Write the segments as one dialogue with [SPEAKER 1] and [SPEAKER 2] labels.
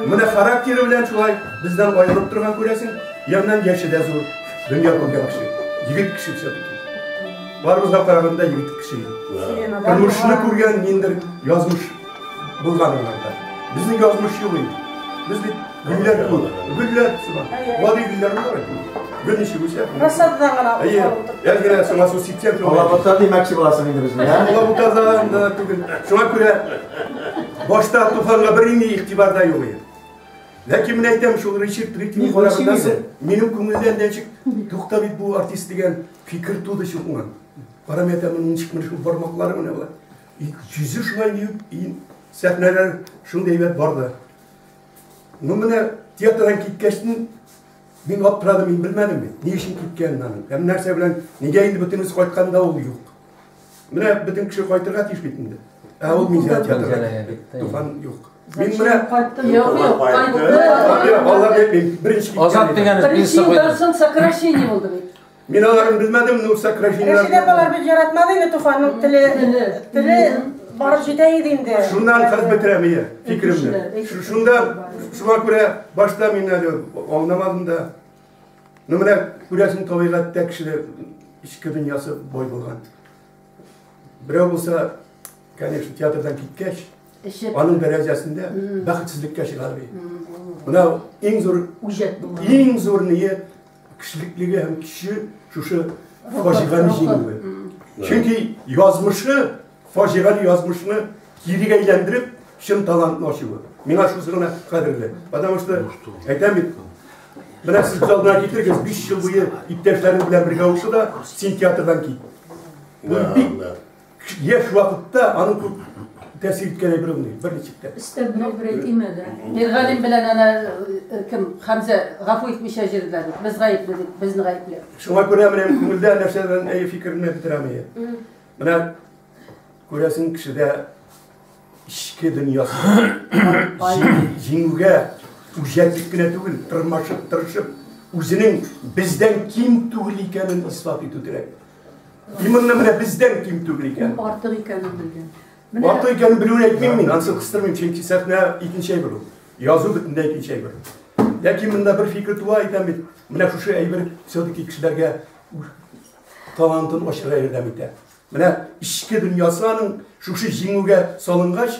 [SPEAKER 1] Менә характері белән шулай бездән айырылып торган күрәсең, яннан яше дә зур, дөнья күргән кеше, егет кеше все Барыбызга караганда егет кеше. Тормышны күргән ниндер язмыш. Булган аларда. Безнең язмыш юк инде. Без бит гөлләр күп. Гөлләр сыман. Вади гөлләр бар бит. Гөл ничек үсә? Рассададан гына. Әйе. Әлгә сиңа су ситсәк, алабута димәкче буласың инде безне. Алабутадан да түгел. Шуңа күрә башта туфанга бернинди игътибарда юк иде. Ләкин мин әйтәм, шул Ричард Рикни караганда минем күңелдән ничек тукта бит бу артист дигән фикер туды шул уңай. Карамәтәмен ничек менә шул бармаклары менә болар. 200 шулай ди сәхнәләр шундый әйбәт барды. Ну менә театрдан киткәч мин аптырадым, мин белмәдем бит, ни өчен киткәнен аның. Һәм нәрсә белән, нигә инде бөтенесе кайтканда ул юк. Менә бөтен кеше кайтырга тиеш бит инде. Ә ул мизә театрда туфан юк. Мин менә кайттым. Юк, юк, кайтты. Алар әйтмим, беренче киткән. Азат дигән. Беренче елдан соң сокращение булды бит. Мин аларын белмәдем, Нурса Крашиннар. Рәшид апалар бит яратмады инде Туфанның теле, теле барып җитә иде инде. Шуннан кыз бетерә мия, фикеремне. Шунда шуңа күрә башта мин әле аңламадым да. Ну менә күрәсең табигатьтә кешеләр ичке дөньясы бой булган. Берәү булса, конечно, театрдан киткәч, аның дәрәҗәсендә бәхетсезлеккә чыгар бит. Менә иң зур үҗәт булган. Иң зур ният Кешелеклеге һәм көче шушы фаҗигане җиңүе. Чөнки язмышы, фаҗигале язмышны кире әйләндереп, чын талантны ачуы. Миңа шусы гына кадерле. Потому что, әйтәм бит, менә сез күз алдына китерегез, 5 ел буе иптәшләрең белән бергә укыды да, син театрдан кит. Бу бик Яшь вакытта аның күп тәэсир иткән әйбер булмый, бер ничек тә. Эстә берәү берәү тимәде. Миргалим белән ана э, кем Хәмзә гафу итмичә җирдә дип, без гаепле дип, безне гаепле. Шуңа күрә менә күңелдә нәрсәдән әйе фикерне бетерәм әйе. Менә күрәсең кешедә эчке дөньясы җиңүгә үҗәтлек кенә түгел, тырмашып, тырышып, үзенең бездән ким түгел икәнен ислат итү кирәк. И монны менә бездән ким түгел икән. Ул артык икәнен белгән. Менә артык икәнен белүен әйтмим мин, ансы кыстырмыйм, чөнки сәхнә икенче әйбер ул. Язу бөтенләй икенче әйбер. Ләкин монда бер фикер туа әйтәм бит. Менә шушы әйбер все-таки кешеләргә талантын ачырга ярдәм итә. Менә ичке дөньясы аның шушы җиңүгә салынгач,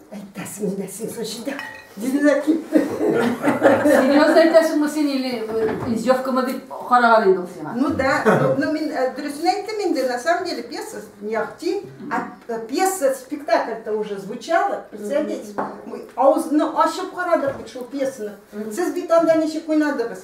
[SPEAKER 1] Әйтәсең инде син шул җирдә. Җирдә китте. Серьезно әйтәсеңме син или издевкамы дип караган инде ул сиңа? Ну да, ну мин э, дөресен әйттем инде, на самом деле пьеса не ахти, а э, пьеса, спектакль-то уже звучала, представляете? Мы аузны ачып карадык бит шул пьесаны. Сез бит анда ничек уйнадыгыз?